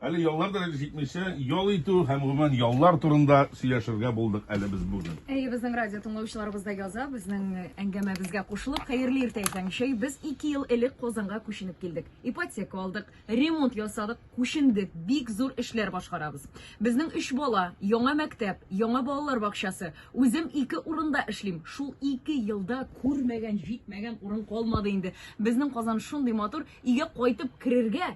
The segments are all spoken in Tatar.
Әле яллар да әле җитмичә, ял итү һәм гомумән яллар турында сөйләшергә булдык әле без бүген. Әйе, безнең радио тыңлаучыларыбыз да яза, безнең әңгәмәбезгә кушылып, хәерле иртә Исәнчәй. Без 2 ел элек Казанга күченеп килдек. Ипотека алдык, ремонт ясадык, күчендек, бик зур эшләр башкарабыз. Безнең 3 бала, яңа мәктәп, яңа балалар бакчасы. Үзем ике урында эшлим. Шул 2 елда күрмәгән, җитмәгән урын калмады инде. Безнең Казан шундый матур, өйгә кайтып керергә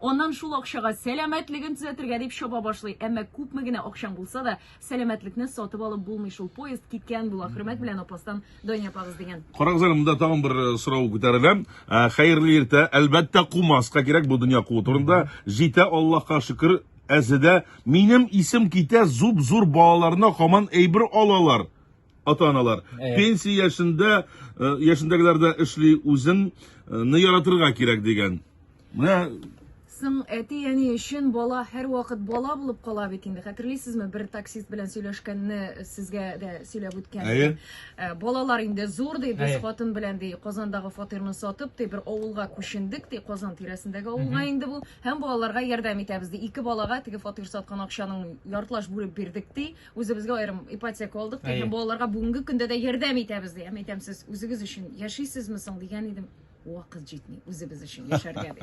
Аннан шул акчага сәламәтлеген төзәтергә дип чаба башлый. Әмма күпме генә акчаң булса да, сәламәтлекне сатып алып булмый шул. Поезд киткән була. Хөрмәт белән апастан Дания апагыз дигән. Карагыз әле, монда тагын бер э, сорау күтәрелә. Э, Хәерле иртә. Әлбәттә, кумаска кирәк бу дөнья куу турында. Җитә Аллаһка шөкер, әзедә. Минем исем китә, зуп-зур балаларына хаман әйбер алалар. ата-аналар. Әйе. Пенсия яшендә э, яшендәгеләр дә эшли, үзеңне э, яратырга кирәк дигән. Менә Соң әти әни өчен бала һәрвакыт бала булып кала бит инде. Хәтерлисезме, бер таксист белән сөйләшкәнне сезгә дә сөйләп үткән. Әйе. Ә, Балалар инде зур ди, без Әйе. хатын белән ди, Казандагы фатирны сатып ди, бер авылга күчендек ди, Казан тирәсендәге авылга инде бу. Һәм балаларга ярдәм итәбез ди. Ике балага теге фатир саткан акчаның яртылаш бүлеп бирдек ди. Үзебезгә аерым ипотека алдык ди, һәм балаларга бүгенге көндә дә ярдәм итәбез ди. Һәм әйтәм, сез үзегез өчен яшисезме соң дигән идем. Вакыт җитми үзебез өчен яшәргә ди.